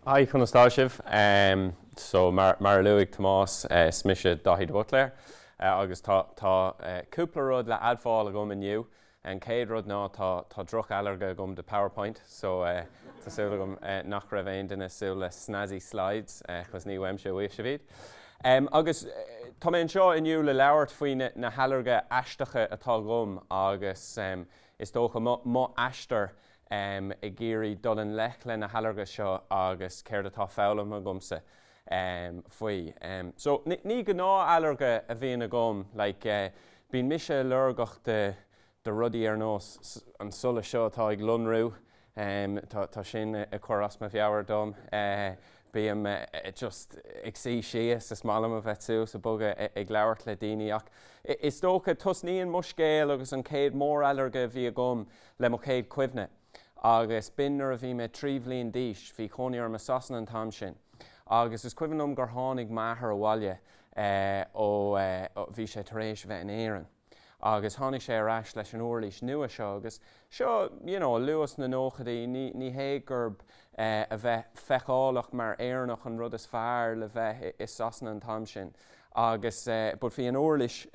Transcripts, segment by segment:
Hi, conas tá sibh? So, mar a luaigh Tomás, is mise Daithí de Bhuitléir agus tá tá cúpla rud le admháil agam inniu. An chéad rud ná tá tá droch-ailléirge agam de PowerPoint so tá súil agam nach raibh aon duine ag súil le snazzy slides 'cause ní uaimse a gheobhaidh sibh iad. Agus tá mé anseo inniu le labhairt faoi na na hailléirge aisteacha atá agam agus is dócha mo mo aistear ag iarraidh dul i ngleic leis na hailléirge seo agus céard atá foghlamtha agamsa faoi. So, ní gnáth-ailléirge a bhíonn agam, like, bíonn mise ailléirgeach de de rudaí ar nós an solas seo atá ag lonrú, tá tá sin ag cur as mo mheabhair dom, bheith just ag suí síos, is maith liom a bheith suas ag bogadh ag labhairt le daoine ach is dócha, tosnaíonn mo scéal agus an chéad mór-ailléirge a bhí agam le mo chéad chuimhne, agus b'in nuair a bhí mé trí bhliain d'aois. Bhí cónaí orm i Sasana an t-am sin, agus is cuimhin liom gur tháinig m'athair abhaile ó. bhí sé tar éis a bheith in Éirinn, agus tháinig sé ar ais leis an uirlis nua seo, agus seo, you know, luath sna nóchaidí, ní hé gurb é a bheith feiceálach mar Éireannach an rud is fearr le bheith i Sasana an t-am sin, agus, but bhí an uirlis.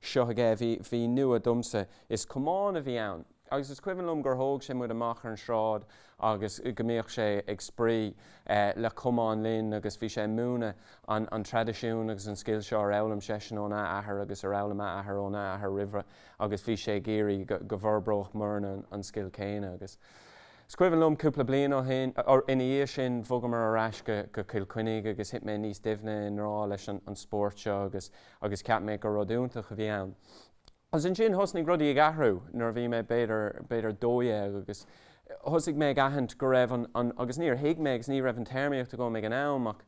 Seo aige a bhí, bhí nua domsa. Is camán a bhí ann agus is cuimhin liom gur thóg sé muid amach ar an tsráid agus go mbíodh sé ag spraoi le camán linn agus bhí sé ag múineadh an, an traidisiún agus an scil seo ar fhoghlaim seisean óna athair agus ar fhoghlaim a athair óna athair roimhe agus bhí sé ag iarraidh go, go bhforbródh muidne an scil céanna agus is cuimhin liom cúpla bliain ó shin, ina dhiaidh sin bhogamar ar ais go, go Cill Chainnigh agus thit mé níos doimhne i ngrá leis an, an spórt seo agus. agus cheap mé gur rud iontach a bhí ann. Agus ansin thosnaigh rudaí ag athrú nuair a bhí mé b'fhéidir, b'fhéidir dó dhéag agus thosaigh mé ag aithint go raibh an, an, agus níor thuig mé agus ní raibh an téarmaíocht agam ag an am ach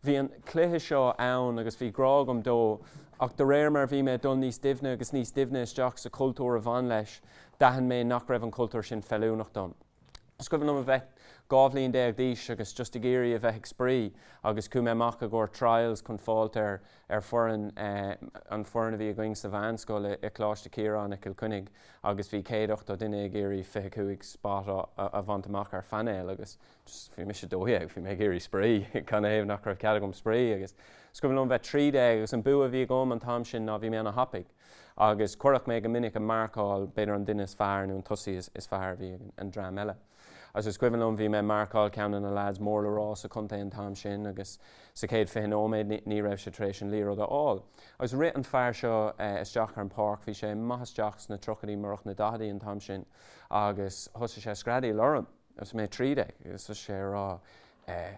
bhí an cluiche seo ann agus bhí grá agam dó ach de réir mar a bhí mé ag dul níos doimhne agus níos doimhne isteach sa chultúr a bhain leis, d'aithin mé nach raibh an cultúr sin feiliúnach dom. Is cuimhin liom a bheith dhá bhliain déag d'aois agus just ag iarraidh a bheith ag spraoi agus chuaigh mé amach i gcomhair trials chun fáilt ar foireann, an foireann a bhí againn sa mheánscoil i Coláiste Chiaráin i Cill Chainnigh agus bhí céad ochtó duine ag iarraidh fiche cúig spot a bhaint amach ar phainéal agus bhí mise dó dhéag, bhí mé ag iarraidh spraoi, canathaobh nach raibh cead agam spraoi? agus is cuimhin liom a bheith trí déag agus an bua a bhí agam an t-am sin ná bhí mé ana thapaidh. Agus cuireadh mé go minic ag marcáil b'fhéidir an duine is fearr nó an tosaí is fearr a bhí ag an dream eile. Agus is cuimhin liom, bhí mé ag marcáil ceann de na leaids mór le rá sa chontae an t-am sin agus sa chéad fiche nóiméad ní raibh sé tar éis an liathróid a fháil. Agus rith an fear seo isteach ar an pháirc, bhí sé maith isteach sna triochaidí murach na daicheadaí an t-am sin, agus thosaigh sé ag screadaíl orm agus mé trí déag. Agus thosaigh sé ag rá Eh.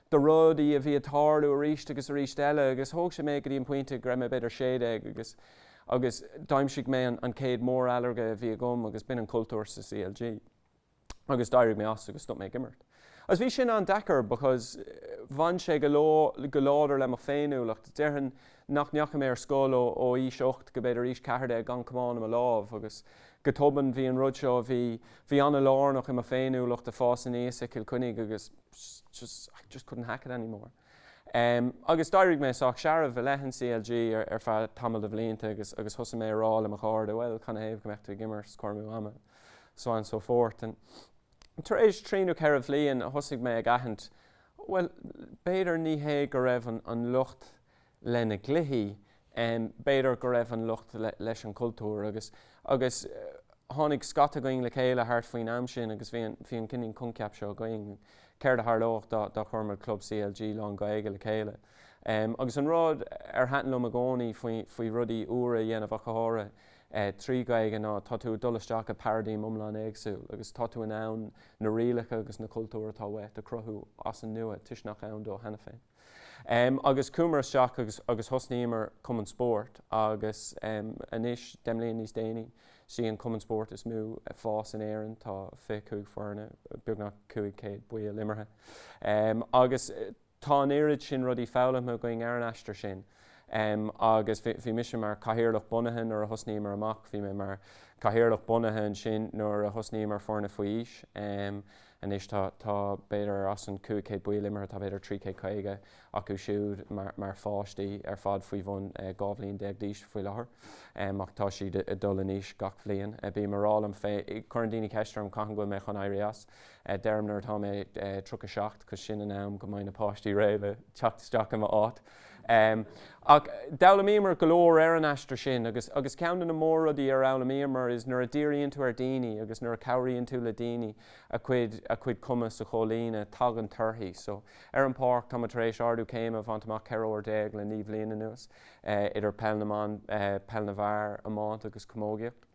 de rudaí a bhí ag tarlú arís agus arís eile agus thóg sé mé go dtí an pointe go raibh mé b'fhéidir sé déag agus agus d'aimsigh mé an céad mór-ailléirge a bhí agam agus b'in an cultúr sa CLG agus d'éirigh mé as agus stop mé ag imirt. Agus bhí sin an-deacair because bhain sé go, go láidir le mo féiniúlacht. Déarfainn nach ndeachaigh mé ar scoil ó ó aois ocht go b'fhéidir aois ceathair déag gan camán i mo lámh agus go tobann bhí an rud seo a bhí, bhí an-lárnach i mo féiniúlacht ag fás aníos i Cill Coinnigh agus. just, just, I just couldn't hack it anymore. Agus d'éirigh mé sách searbh i leith an CLG ar feadh tamall de bhlianta agus, agus thosaigh mé ag rá le mo chairde, bhuel, canathaobh go mbeadh tú ag imirt, is cur amú ama, and so on and so forth. And tar éis trí nó ceithre bhliain thosaigh mé ag aithint, bhuel, b'fhéidir ní hé go raibh an, an locht leis na gcluichí. B'fhéidir go raibh an locht leis an chultúr agus agus tháinig scata againn le chéile thart faoin am sin agus bhí an bhí an cineál coincheap seo againn, céard a tharlódh dá dá chuireamar club CLG lán-Ghaeilge le chéile? Agus an rud ar thaitin liom i gcónaí faoi faoi rudaí úra a dhéanamh ach go háirithe trí Ghaeilge ná tá tú ag dul isteach i paraidím iomlán éagsúil agus tá tú in ann na rialacha agus na cultúir atá uait a chruthú as an nua, toisc nach ann dó cheana féin. Agus chuaigh muid isteach agus, agus thosnaíomar cumann spóirt agus anois, deich mbliain níos déanaí, is í an cumann spóirt is mó fás in Éirinn, tá fiche cúig foirne, beagnach cúig chéad baill imeartha. Agus tá an oiread sin rudaí foghlamtha againn ar an aistear sin agus bhí, bhí mise mar cathaoirleach bunaithe nuair a thosnaíomar amach, bhí mé mar cathaoirleach bunaithe ansin nuair a thosnaíomar foirne faoi aois, Anois tá, b'fhéidir, as an 500 baill imeartha, tá, b'fhéidir, 350 acu siúd mar pháistí ar fad faoi bhun 12 bhliain d'aois faoi láthair. Ach tá siad ag dul in aois gach bliain. Bím ag rá liom féin, cuireann daoine ceist orm cathain go bhfuil mé chun éirí as. Deirim nuair atá mé 37 'cause sin an am go mbeidh na páistí réidh le teacht isteach i m'áit. Ach d'fhoghlaimíomar go leor ar an aistear sin agus agus ceann de na mór-rudaí ar fhoghlaimíomar is nuair a dhíríonn tú ar daoine agus nuair a chabhraíonn tú le daoine a gcuid a gcuid cumas a chomhlíonadh, tagann torthaí. So, ar an pháirc, tá muid tar éis ardú céime a bhaint amach 14 uair le naoi bhliain anuas, idir peil na mban, peil na bhfear, iomáint agus camógaíocht.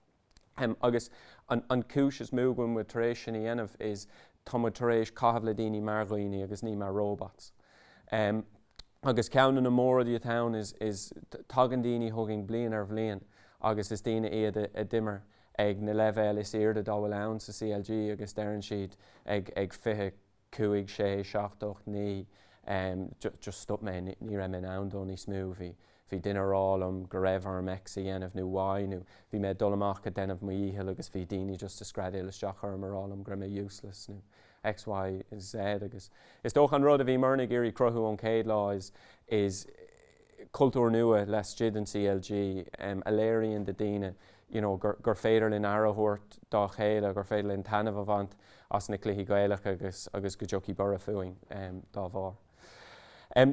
Agus an chúis is mó go bhfuil muid tar éis sin a dhéanamh is tá muid tar éis caitheamh le daoine mar dhaoine agus ní mar robots. Agus ceann de na mór-rudaí atá ann is tagann daoine chugainn bliain ar bhliain agus is daoine iad a d'imir ag na leibhéil is airde dá bhfuil ann sa CLG agus deireann siad ag 20, 5, 6, 7, 8, 9, em just just stop mé ní raibh mé in ann dó níos mó bhí bhí duine a' rá liom go raibh orm X a dhéanamh nó Y nó bhí mé ag dul amach ag déanamh mo dhícheall agus bhí daoine just a' screadaíl isteach orm a' rá liom go raibh mé useless nó X Y Z agus is dócha an rud a bhí muidne ag iarraidh cruthú ón chéad lá is is cultúr nua laistigh den CLG a léiríonn do dhaoine you know gur féidir linn aire a thabhairt dá chéile, gur féidir linn taitneamh a bhaint as na cluichí Gaelacha agus go dtiocfaidh borradh fúinn dá bharr.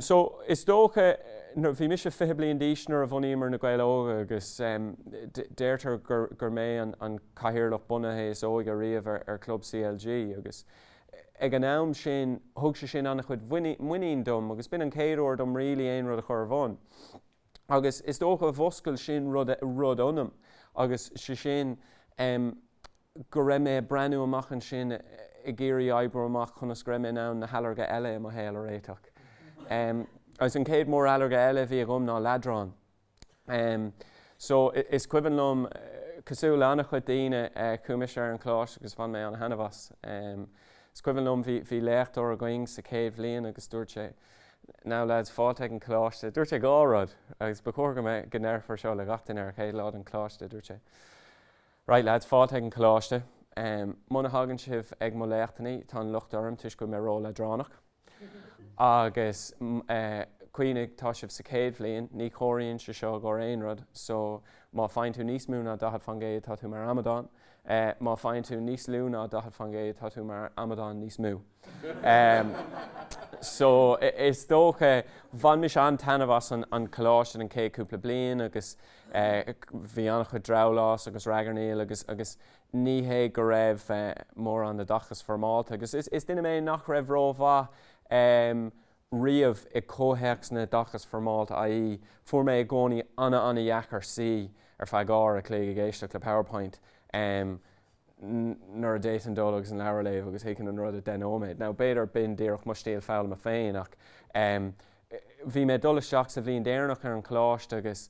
So is dócha, bhí mise fiche bliain d'aois nuair a bhunaíomar Na Gaeil Óga agus deirtear gur mé an cathaoirleach bunaithe is óige riamh ar chlub CLG agus Ag an am sin, thug sé sin an-chuid muinín dom, agus b'in an chéad uair dom really aon rud a chur ar bun. Agus is dócha mhúscail sin rud ionam, agus sé sin go raibh mé ag breathnú amach ansin ag iarraidh oibriú amach conas go raibh mé in ann na hailléirge eile i mo shaol a réiteach. Agus an chéad mór-ailléirge eile a bhí agam ná leadrán. Em, so, i, is cuimhin liom, cosúil le an-chuid daoine, eh, chuaigh mise ar an Choláiste agus bhain mé an-thaitneamh as. Em, is cuimhin liom, bhí, bhí léachtóir againn sa chéad bhliain agus dúirt sé, now lads, fáilte ag an Choláiste, dúirt sé dhá rud agus ba chóir go mbeidh, go ndéarfar seo le gach duine ar an chéad lá den Choláiste, dúirt sé, right lads, fáilte ag an Choláiste, em, muna thagann sibh ag mo léachtannaí, tá an locht orm toisc go bhfuil mé ró-leadránach. Agus cuimhnigh, tá sibh sa chéad bhliain, ní chomhairíonn sé seo i gcomhair aon rud, so má faigheann tú níos mó ná 40 faoin gcéad, tá tú mar amadán, má faigheann tú níos lú ná 40 faoin gcéad, tá tú mar amadán níos mó. So, is dócha, bhain mise an-taitneamh as an choláiste an chéad cúpla bliain agus bhí an-chuid drabhlás agus ragairneáil agus Ní hé go raibh mórán oideachas foirmeálta agus is duine mé nach raibh rómhaith riamh i gcomhthéacs an oideachais foirmeálta, ii, a fuair mé i gcónaí ana-ana-dheacair suí ar feadh uair a chloig ag éisteacht le Powerpoint nuair a d'fhéadfainn dul agus an leabhar a léamh agus thuigfinn an rud i 10 nóiméad. Now, b'fhéidir b'in díreach mo stíl foghlama féin ach. Bhí mé ag dul isteach sa bhliain deireanach ar an choláiste agus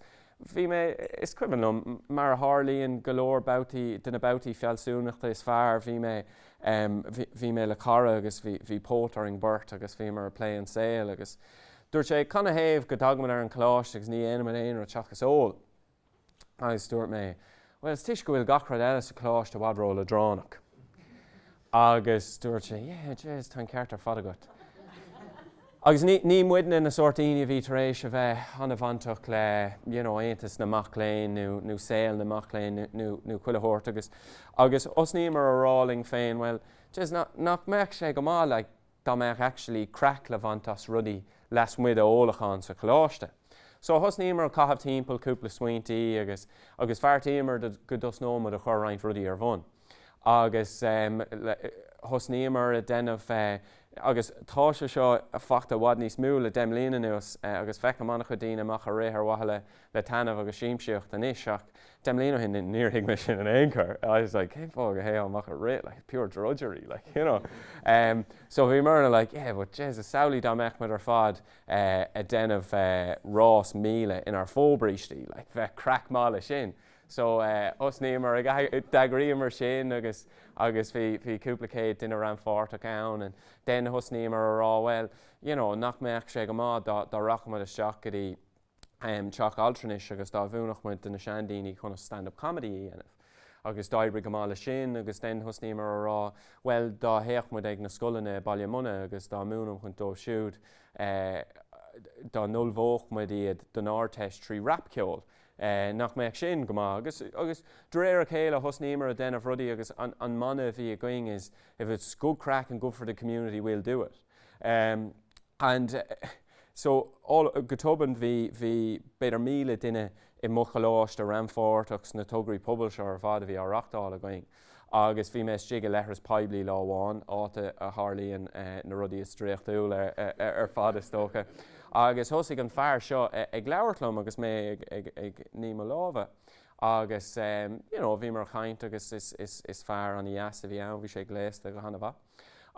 bhí mé, is cuimhin liom, mar a tharlaíonn go leor babhtaí, de na babhtaí fealsúnachta is fearr, bhí mé, bhí mé le cara agus bhí póit orainn beirt agus bhíomar ag plé an saol agus dúirt sé, cad ina thaobh go dtagaimid ar an choláiste agus ní dhéanaimid aon rud seachas ól? Agus dúirt mé, Bhuel, toisc go bhfuil gach rud eile sa choláiste i bhfad ró-leadránach. Agus dúirt sé, Yeah, jeez, tá an ceart ar fad agat. Agus ní, ní muide na sórt daoine a bhí tar éis a bheith an-bhainteach le, you know, aontas na mac léinn nó, nó saol na mac léinn nó, nó, nó chuile shórt. Agus, agus thosnaíomar a rá linn féin, bhuel, jeez, nach, nach mbeadh sé go maith, like, dá mbeadh actually craic le baint as rudaí lasmuigh de ólachán sa choláiste. So thosnaíomar ag caitheamh timpeall, cúpla smaointí agus, agus bheartaíomar go dtosnódh muid ag cur roinnt rudaí ar bun. Agus thosnaíomar ag déanamh eh, agus tá sé seo ag fáil i bhfad níos mó le deich mbliana anuas eh, agus feicim an-chuid daoine amach ag rith ar mhaithe le le taitneamh agus siamsaíocht anois ach deich mbliana ó shin níor thuig mé sin in aon chor, I was like cén fáth go dtéifeá amach ag rith, like pure drudgery like, you know. So bhí mé ag rá like but Jesus samhlaigh dá mbeadh muid ar fad ag déanamh rás míle inár fobhrístí, like bheadh craic maith leis sin. So thosnaíomar ag d'eagraíomar sin agus agus bhí bhí cúpla céad duine rannpháirteach ann and then thosnaíomar a rá bhuel you know nach mbeadh sé go maith dá dá rachadh muid isteach go dtí teach altranais agus dá múinfeadh muid do na seandaoine conas stand-up comedy a dhéanamh. Agus d'éirigh go maith leis sin agus then thosnaíomar a rá bhuel dá dtéadh muid ag na scoileanna i mBaile Munna agus dá múinfeadh muid dóibh siúd dá n-ullmhódh muid iad don Ardteist trí rapcheol nach mbeadh sin go maith? Agus agus de réir a chéile thosnaíomar ag déanamh rudaí agus an mana a bhí againn is if it's good craic and good for the community we'll do it. Um, and, uh, so, all, go tobann bhí, bhí, b'fhéidir míle duine i mo choláiste rannpháirteach sna tograí pobail seo ar fad a bhí á reachtáil againn. Agus bhí mé istigh i leithreas poiblí lá amháin, áit a tharlaíonn uh, na rudaí is draíochtúla ar, ar, ar fad is dócha. Agus thosaigh an fear seo uh, ag labhairt liom agus mé ag, ag, ag níomh mo lámha. Agus, um, you know, bhíomar ag caint agus is, is, is fear an-dheas a bhí ann, bhí sé gléasta go han-mhaith.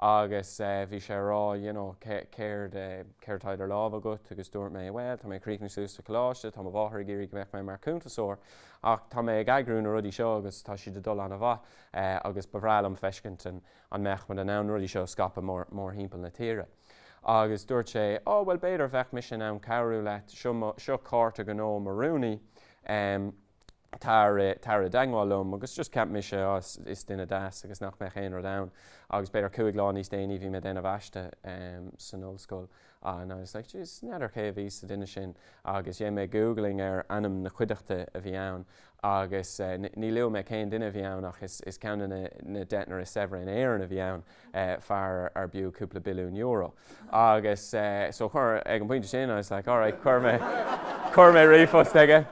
Agus bhí sé ag rá, you know, céard, céard atá idir lámha agat? Agus dúirt mé, bhuel, tá mé ag críochnú suas sa choláiste, tá mo mháthair ag iarraidh go mbeadh mé mar chuntasóir, ach tá mé ag eagrú na rudaí seo agus tá siad ag dul an-mhaith agus ba bhreá liom feiscint an, an mbeadh muid in ann na rudaí seo a scaipeadh mór, mórthimpeall na tíre. Agus dúirt sé, oh, bhuel, b'fhéidir bheadh mise in ann cabhrú leat, seo mo, seo cárta gnó mo rúnaí. tar i dteagmháil liom agus just cheap mise, oh is duine deas agus nach mbeadh aon rud ann agus b'fhéidir cúig lá níos déanaí bhí mé ag déanamh aiste san ollscoil and I was like jeez n'fheadar cé a bhí sa duine sin agus dhéan mé googling ar ainm na cuideachta a bhí ann agus ní luafaidh mé cén duine a bhí ann ach is ceann den deichniúr is saibhre in Éirinn a bhí ann. fear arbh fhiú cúpla billiún euro. Agus so chuir, ag an bpointe sin, I was like, all right, chuir mé, chuir mé ríomhphost aige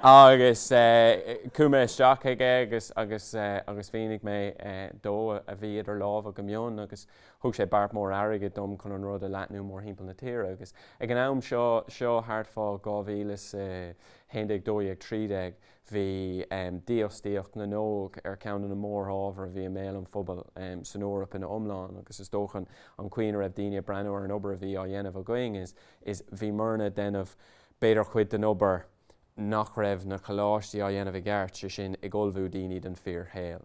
agus chuaigh mé isteach aige agus, agus, agus mhínigh mé dó a bhí idir lámha go mion agus thug sé beart mór airgid dom chun an rud a leathnú mórthimpeall na tíre. Agus ag an am seo, seo thart fá 2011 1213, Bhí dífhostaíocht na n-óg ar cheann de na mórábhair a bhí i mbéal an phobail san Eoraip ina iomlán agus is dócha an chaoi ina raibh daoine ag breathnú ar an obair a bhí á dhéanamh againn is bhíomarna ag déanamh b'fhéidir cuid den obair nach raibh na coláistí á dhéanamh i gceart, sé sin, ag ullmhú daoine don fíorshaol.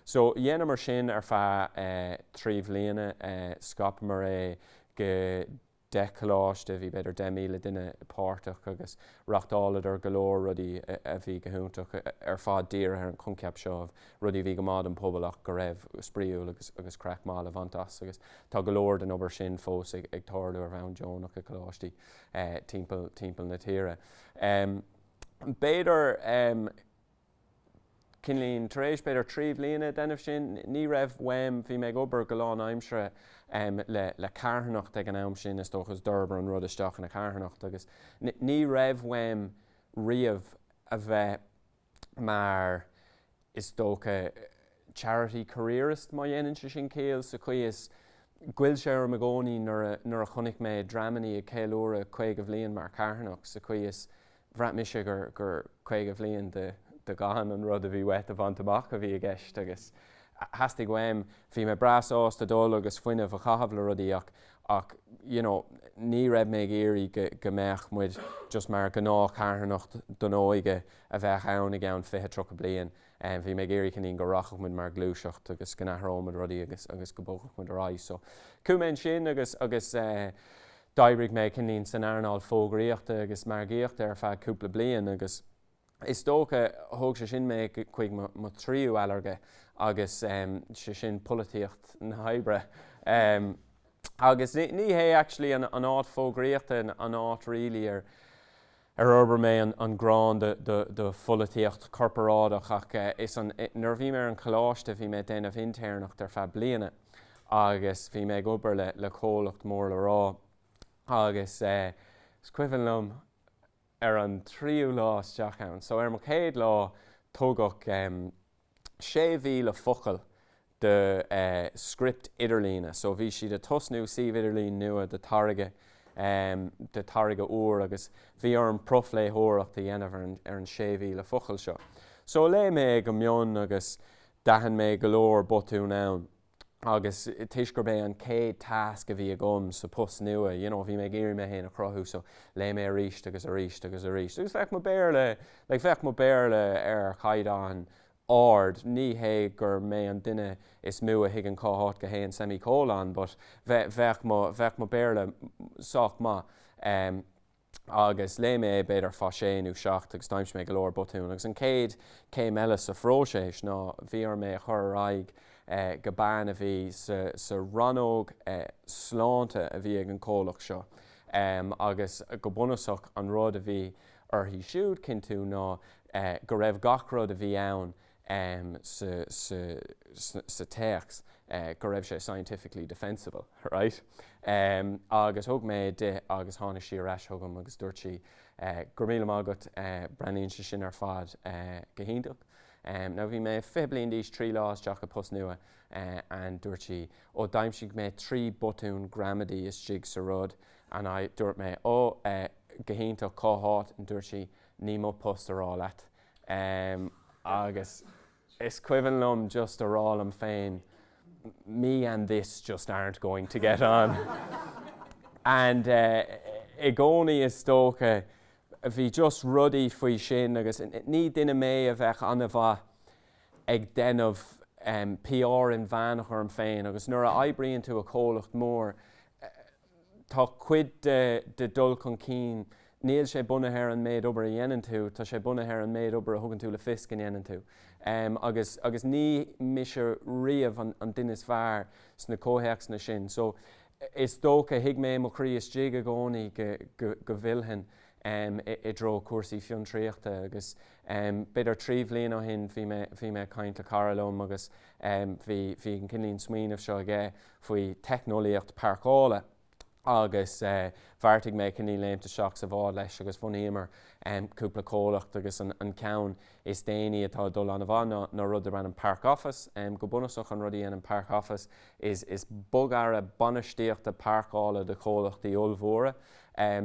So, dhéanamar sin ar feadh trí bhliana, scaipeamar é go. 10 coláiste, bhí b'fhéidir 10,000 duine páirteach agus reachtáladar go leor rudaí a bhí go hiontach, ar fad dírithe ar an choincheap seo, rudaí a bhí go maith don bpobal ach go raibh spraíúil agus craic maith le bhaint as agus tá go leor den obair sin fós ag tarlú ar bhonn deonach i gcoláistí timpeall timpeall na tíre. B'fhéidir. Cineáilín, tar éis b'fhéidir trí bhliana ag déanamh sin, ní raibh uaim, bhí mé ag obair go lán aimsire le le carthanacht ag an am sin is dócha is d'fhorbair an rud isteach ina charthanacht agus ní raibh uaim riamh a bheith mar is dócha charity careerist má dhéanann sé sin ciall sa chaoi is ghoill sé orm i gcónaí nuair a nuair a chonaic mé dreamannaí ag ceiliúradh caoga bhliain mar charthanacht sa chaoi is bhraith mise gur caoga bhliain de gan an rud a bhí uait a bhaint amach a bhí i gceist agus theastaigh uaim, bhí mé breá sásta dul agus fuinneamh a chaitheamh le rudaí ach ach you know ní raibh mé ag iarraidh go mbeadh muid just mar ghnáthcharthanacht don óige a bheadh ann i gceann fiche, tríocha bliain. Bhí mé ag iarraidh cineáilín go rachadh muid mar ghluaiseacht agus go n-athródh muid rudaí agus agus go bogfadh muid ar aghaidh. So, chuaigh mé ansin agus agus eh, D'oibrigh mé cineáilín san earnáil fógraíochta agus margaíochta ar feadh cúpla bliain agus is dócha thug sé sin mé chuig mo thríú ailléirge agus sé sin polaitíocht na hoibre. Agus ní hé actually an áit fógraíochta an áit really ar. ar fhorbair mé an ghráin do pholaitíocht chorparáideach ach is an, nuair a bhí mé ar an choláiste bhí mé ag déanamh intéirneacht ar feadh bliana agus bhí mé ag obair le comhlacht mór le rá agus is cuimhin liom ar an tríú lá isteach ann, so ar mo chéad lá tugadh. 6,000 focal de script idirlíne so bhí siad a' tosnú suíomh idirlín nua do táirge, do táirge úr agus bhí orm profléitheoireacht a dhéanamh ar an, ar an 6,000 focal seo. So léigh mé é go mion agus d'aithin mé go leor botún ann. agus toisc gurb é an chéad tasc a bhí agam sa post nua, you know, bhí mé ag iarraidh mé féin a chruthú, so léigh mé arís agus arís agus arís, agus bheadh mo Béarla, like, bheadh mo Béarla ar chaighdeán ard, ní hé gur mé an duine is mó a thuigeann cá háit go dtéann semi-colon, but bheadh mo, bheadh mo Béarla sách maith. agus léigh mé é b'fhéidir fá sé nó seacht agus d'aimsigh mé go leor botún agus an chéad céim eile sa phróiseas ná bhí orm é a chur ar aghaidh go bean a bhí sa rannóg sláinte a bhí ag an comhlacht seo agus go bunúsach an rud a bhí uirthi siúd cinntiú ná go raibh gach rud a bhí ann sa téacs go raibh sé scientifically defensible, right? Agus thug mé é di agus tháinig sí ar ais chugam agus dúirt sí, go raibh míle maith agat, breathnaíonn sé sin ar fad go hiontach. Now bhí mé fiche bliain d'aois, trí lá isteach i bpost nua and dúirt sí, oh d'aimsigh mé trí botún gramadaí istigh sa rud and dúirt mé, oh, go hiontach, cá háit? And dúirt sí, ní hé mo phost a rá leat. em agus is cuimhin liom just a rá liom féin me and this just aren't going to get on and eh i gcónaí is dócha bhí just rudaí faoi sin agus ní duine mé a bheadh an-mhaith ag déanamh em PR inmheánach orm féin agus nuair a oibríonn tú i comhlacht mór eh Tá cuid de do dhul chun cinn, níl sé bunaithe ar an méid obair a dhéanann tú, tá sé bunaithe ar an méid obair a thugann tú le fios go ndéanann tú. Agus, agus ní mise riamh an duine is fearr sna comhthéacsanna sin. So, is dócha, thuig mé i mo chroí istigh i gcónaí go bhfillfinn i dtreo cúrsaí fiontraíochta. Agus b'fhéidir trí bhliain ó shin bhí mé, bhí mé ag caint le cara liom agus bhí, bhí an cinnlín smaoinimh seo aige. faoi theicneolaíocht páirceála agus bheartaigh mé cineál léimt isteach sa bhád leis agus bhunaíomar cúpla comhlacht agus an ceann is déanaí atá ag dul an-mhaith ná rud darb ainm Park Office. Go bunúsach an rud a dhéanann Park Office is bogearra bainistíochta páirceála do chomhlachtaí ollmhóra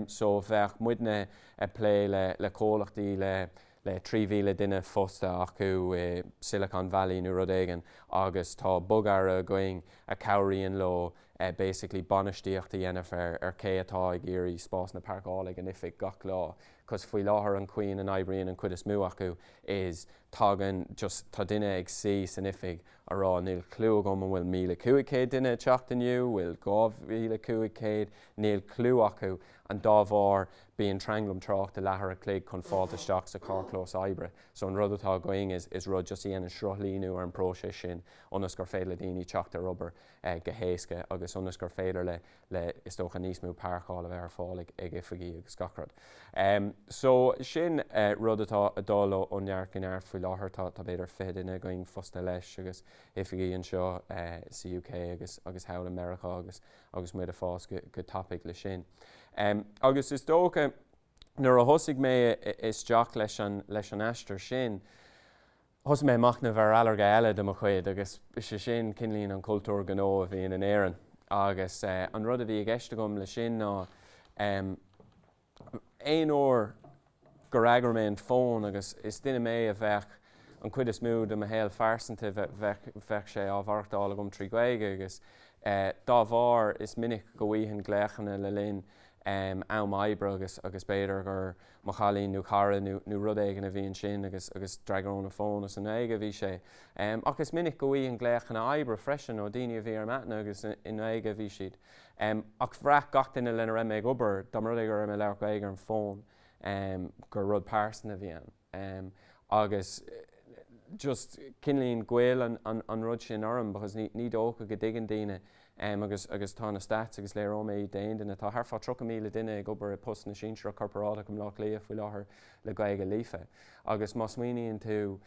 so bheadh muidne ag plé le comhlachtaí le le 3,000 duine fostaithe acu i Silicon Valley nó rud éigin agus tá bogearra againn a chabhraíonn leo basically bainistíocht a dhéanamh ar cé atá ag iarraidh spásanna páirceála ag an oifig gach lá cos faoi láthair an chaoi ina n-oibríonn an chuid is mó acu is tagann just tá duine ag suí san oifig a rá níl clú agam an bhfuil 1,500 duine ag teacht inniu bhfuil 2,500 níl clú acu and dá bharr Bíonn tranglam tráchta leathuair a chloig chun fáilt isteach sa charrchlós oibre. So an rud atá againn is is rud just a dhéanann sruthlíniú ar an bpróiseas sin ionas gur féidir le daoine teacht ar obair go héasca agus ionas gur féidir le le is dócha níos mó páirceáil a bheith ar fáil ag ag oifigí agus gach rud. So sin rud atá ag dul ó ó neart go neart faoi láthair. Tá tá b'fhéidir fiche duine againn fostaithe leis agus oifigí anseo sa UK agus agus thall i Meiriceá agus agus muid ag fás go tapaidh le sin. Agus is dócha nuair a thosaigh mé isteach leis an aistear sin, thosaigh mé ag machnamh ar ailléirge eile de mo chuid agus is é sin kinda like an cultúr gnó a bhíonn in Éirinn. Agus an rud a bhí i gceist agam le sin ná. Aon uair gur fhreagair mé an fón, agus is duine mé a bheadh an chuid is mó de mo shaol pearsanta, bheadh sé á mhaireachtáil agam trí Ghaeilge agus dá bharr is minic go bhfaighinn glaochanna le linn am oibre agus b'fhéidir gur mo chailín nó cara nó rud éigin a bhíonn ansin agus d'fhreagróinn an fón. Is i nGaeilge a bhí sé. Ach is minic go bhfaighinn glaochanna oibre freisin ó daoine a bhí ar m'aithne agus i nGaeilge a bhí siad. Ach bhraith gach duine lena raibh mé ag obair, dá mba rud é go raibh mé ag labhairt Gaeilge ar an bhfón, gur rud pearsanta a bhí ann. Agus just kinda like ghoill an rud sin orm because ní dócha go dtuigeann daoine agus agus tá na stats agus léireoidh mé iad d'aon duine, tá thart fá 30,000 duine ag obair i postanna sinsearach corparáideach i mBleá Cliath faoi láthair le Gaeilge líofa. Agus má smaoiníonn tú,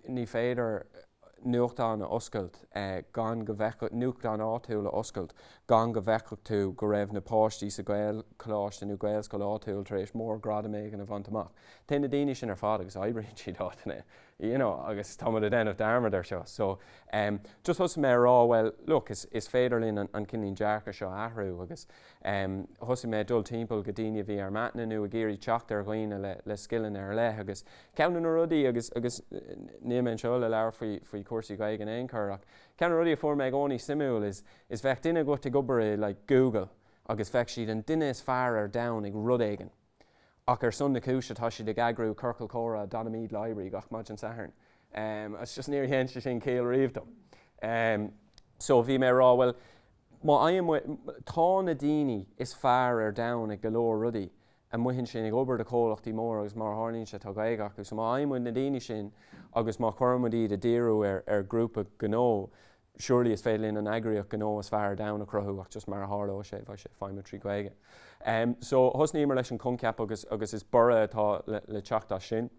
ní féidir. nuachtán a oscailt gan go bhfeicfeadh, nuachtán áitiúil a oscailt gan go bhfeicfeadh tú go raibh na páistí sa Ghaelcholáiste nó Gaelscoil áitiúil tar éis mórghradam éigin a bhaint amach. Téann na daoine sin ar fad agus oibríonn siad áiteanna you know agus tá muid ag déanamh dearmad air seo. So em just thosaigh mé ag rá bhuel look is is féidir linn an an kinda like dearcadh seo a athrú agus em thosaigh mé ag dul timpeall go daoine a bhí ar m'aithne nó ag iarraidh teacht ar dhaoine le le scileanna ar leith agus Ceann de na rudaí, agus níl mé anseo le labhairt faoi chúrsaí Gaeilge in aon chor, ach ceann de na rudaí a fuair mé i gcónaí suimiúil is, bheadh duine agat ag obair i like Google agus bheadh siad an duine is fearr ar domhan ag rud éigin ach ar son na cúise tá siad ag eagrú ciorcal comhrá i Donaghmede Library gach maidin Sathairn agus just níor dhein sé sin ciall riamh dom. So bhí mé ag rá bhuel má fhaigheann muid, tá na daoine is fearr ar domhan ag go leor rudaí, amuigh ansin ag obair do chomhlachtaí móra agus mar a tharlaíonn sé tá Gaeilge acu so má fhaigheann muid na daoine sin agus má chuireann muid iad a' díriú ar, ar ghrúpa gnó surely is féidir linn an eagraíocht ghnó is fearr ar domhan a chruthú ach just mar a tharlóidh sé bheidh sé ag feidhmiú trí Ghaeilge. So thosnaíomar leis an choincheap agus, agus is borradh atá le, le teacht as sin.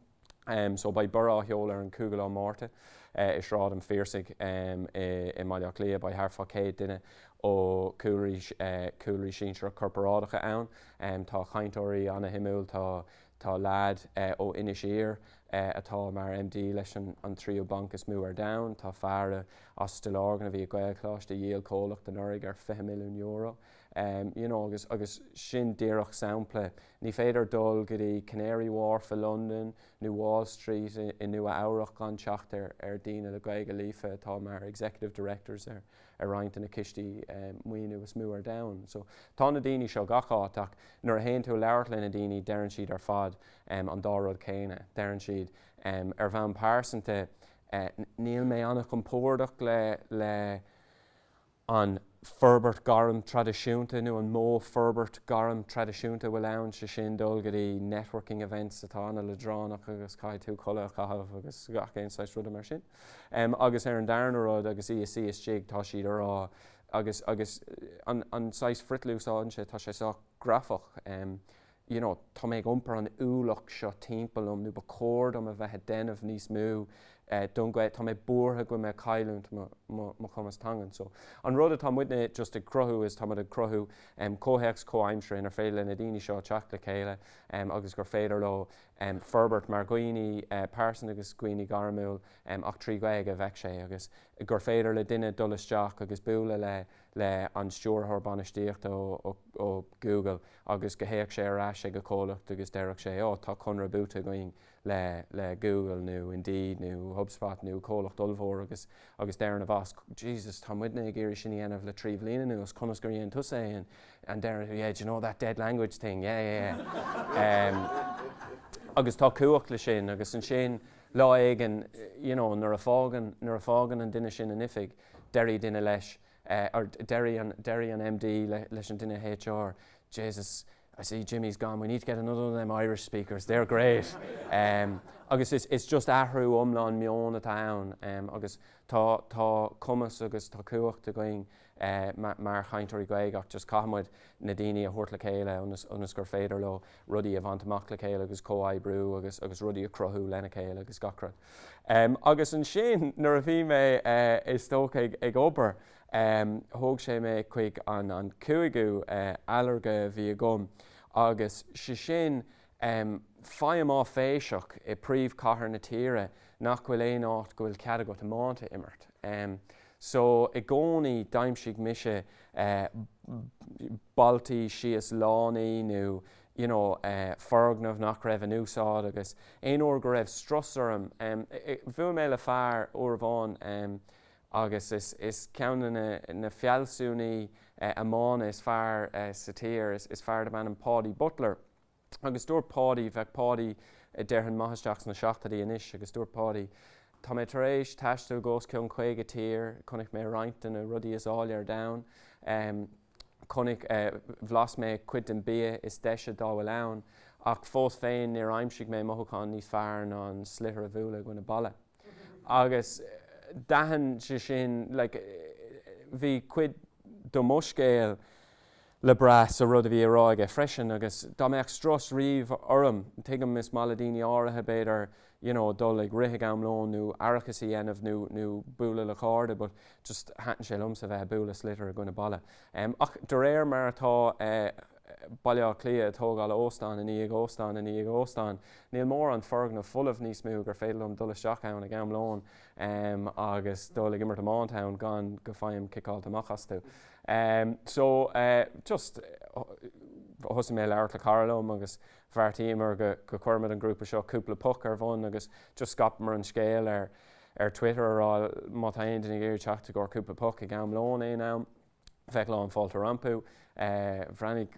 so beidh Borradh á sheoladh ar an 5ú lá Márta i Sráid an Phiarsaigh i mBaile Átha Cliath. Beidh thart fá 100 duine ó chúlraí sinsearach corparáideacha ann. Tá cainteoirí ana-shuimiúil, tá tá leaid ó Inis Oírr atá mar MD leis an tríú banc is mó ar domhan, tá fear as Stillorgan a bhí ag Gaelcholáiste a dhíol comhlacht anuraidh ar 20 milliún euro. You know agus agus sin díreach sampla Ní féidir dul go dtí Canary Wharf i Londain nó Wall Street i Nua Eabhrach gan teacht ar daoine le Gaeilge líofa atá mar Executive Directors ar roinnt de na cistí maoiniú is mó ar domhan. So, tá na daoine seo gach áit ach nuair a théann tú ag labhairt le na daoine deireann siad ar fad an dá rud céanna. Deireann siad, ar bhonn pearsanta, níl mé an-chompordach le, le, an forbairt gairm traidisiúnta nó an modh forbairt gairm traidisiúnta a bhfuil ann, sé sin, dul go dtí networking events atá ana-leadránach agus caithfidh tú culaith a chaitheamh agus gach aon saghas ruda mar sin. Agus ar an darna rud, agus is dóigh, tá siad a rá, agus, agus an, an saghas frithdlús atá anseo, tá sé sách grafach, you know, tá mé ag iompar an ualach seo timpeall liom nó ba chóir dom a bheith ag déanamh níos mó don Ghaeilge, tá mé buartha go mbeidh mé ag cailliúint mo chumas teangan. So an rud atá muidne just ag cruthú is tá muid ag cruthú comhthéacs comhaimseartha inar féidir le na daoine seo teacht le chéile agus gur féidir leo forbairt mar dhaoine pearsan agus dhaoine gairmiúil ach trí Ghaeilge a bheadh sé agus gur féidir le duine dul isteach agus bualadh le le an Stiúrthóir Bainistíochta ó Google agus go dtéadh sé ar ais ag a comhlacht agus déarfadh sé, oh, tá conradh buaite againn le Google nó Indeed nó Hubspot nó comhlacht ollmhór agus agus deireann a bhoss, Jesus, tá muidne ag iarraidh sin a dhéanamh le trí bhliain anuas, conas gur dhéan tusa é and and deireann tú, yeah, do you know that dead language thing, yeah, yeah, yeah. em, agus tá cumhacht le sin agus ansin lá éigin, you know, nuair a fágann, nuair a fágann an duine sin an oifig, Déarfaidh duine leis, or déarfaidh an MD leis an duine HR, Jesus, I see Jimmy's gone, we need to get another of them Irish speakers, they're great! Agus it's just athrú iomlán meoin atá ann agus tá cumas agus tá cumhacht againn mar chainteoirí Gaeilge ach just caithfidh muid na daoine a thabhairt le chéile ionas gur féidir leo rudaí a bhaint amach le chéile agus comhoibriú agus agus rudaí a chruthú lena chéile agus gach rud. Agus ansin nuair a bhí mé is dócha ag ag obair thóg sé mé chuig an an cúigiú ailléirge a bhí agam agus sé sin feidhm áiféiseach i príomhchathair na tíre nach bhfuil aon áit go bhfuil cead agat iomáint a imirt. So, i gcónaí, d'aimsigh mise balltaí síos lánaí nó you know foirgneamh nach raibh in úsáid agus aon uair go raibh strus orm, bhuail mé le fear uair amháin agus is ceann de na fealsúnaí iomána is fearr sa tír, is fear darb ainm Paudie Butler. Agus dúirt Páidí, bheadh Páidí a déarfainn maith isteach sna seachtóidí anois, agus dúirt Páidí, tá mé tar éis taisteal go os cionn caoga tír, chonaic mé roinnt de na rudaí is áille ar domhan, chonaic, bhlas mé cuid den bia is deise dá bhfuil ann, ach fós féin níor aimsigh mé mothúchán níos fearr ná an sliotar a bhualadh i gcoinne balla. Agus d'aithin sé sin, like, bhí cuid de mo scéal, le brath sa rud a bhí á rá aige freisin agus dá mbeadh strus riamh orm, tuigim, is maith le daoine áirithe, b'fhéidir, you know dul ag rith ag am lóin nó aireachas a dhéanamh nó nó bualadh le cairde but just thaitin sé liomsa bheith ag bualadh sliotar i gcoinne balla. Ach de réir mar atá Baile Átha Cliath ag tógáil óstán i ndiaidh óstáin i ndiaidh óstáin, níl mórán foirgneamh folamh níos mó gur féidir liom dul isteach ann ag am lóin. em, agus dul ag imirt iomáint ann gan go faighim ciceáilte amach astu. Em, so, eh, just, eh, thosaigh mé ag labhairt le cara liom agus bheartaíomar go, go cuirfimid an grúpa seo Cúpla Puc ar bhun agus just scaipeamar an scéal ar, ar Twitter a rá má tá aon duine ag iarraidh teacht i gcomhair cúpla puc ag am lóin aon am, beidh lán fáilte rompu. Bhreathnaigh,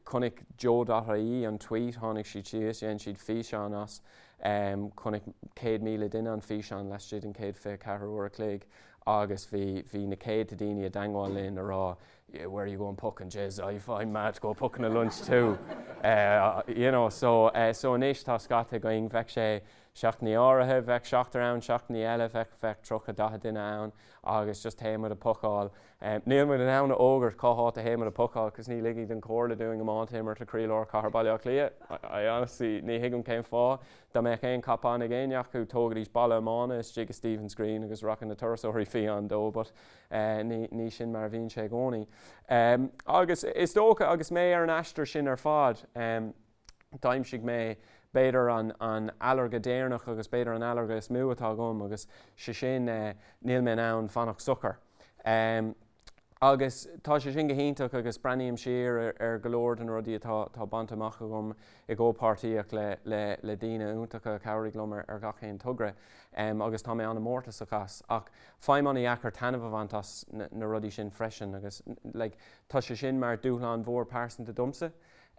chonaic Joe.ie an tweet, tháinig siad síos, dhein siad físeán as, chonaic 100,000 duine an físeán laistigh den chéad 24 uair a chloig agus bhí, bhí na céadta daoine i dteangmháil linn a rá yeah where you going pucking jeez, I've, I'm mad to go pucking at lunch too. You know, so, so anois tá scata againn, bheadh sé seachtainí áirithe, bheadh seachtar ann, seachtainí eile bheadh, bheadh tríocha, daichead duine ann. agus just théimid a' pocáil. Níl muid in ann a fhógairt cá háit a théimid a' pocáil 'cause ní ligfidh an Chomhairle dúinn iomáint a imirt le croílár chathair Bhaile Átha Cliath. I honestly, ní thuigim cén fáth. Dá mbeadh aon cop on ag éinne acu, tógfaidís balla iomána istigh i Stephen's Green agus rachadh na turasóirí fiáin dó but ní, ní sin mar a bhíonn sé i gcónaí. Agus is dócha, agus mé ar an aistear sin ar fad, d'aimsigh mé, b'fhéidir, an ailléirge deireanach agus b'fhéidir an ailléirge is mó atá agam agus sé sin, níl mé in ann fanacht socair. Agus tá sé sin go hiontach agus breathnaím siar ar go leor de na rudaí atá bainte amach agam i gcomhpháirtíocht le daoine iontacha a chabhraigh liom ar gach aon togra agus tá mé ana-mhórtasach as. Ach faighim ana-dheacair taitneamh a bhaint as na rudaí sin freisin agus tá sé sin mar dúshlán mhór pearsanta domsa.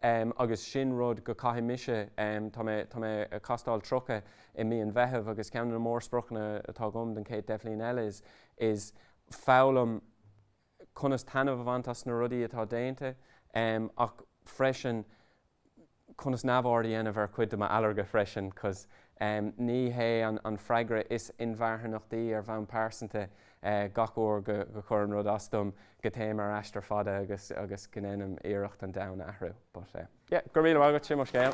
em agus sin rud go caithfidh mise em tá mé tá mé a' castáil tríocha i mí an Mheithimh agus ceann de na mórspriocanna atá agam don chéad deich mbliana eile is is foghlaim conas taitneamh a bhaint as na rudaí atá déanta em ach freisin conas neamhaird a dhéanamh ar chuid de m'fhearga freisin 'cause em ní hé an an freagra is inmharthanaí ar bhonn pearsanta Gach uair go gcuireann rud as dom, go téim ar aistear fada agus go ndéanaim iarracht an domhan a athrú. But yeah, go raibh míle maith agat, sin mo scéal.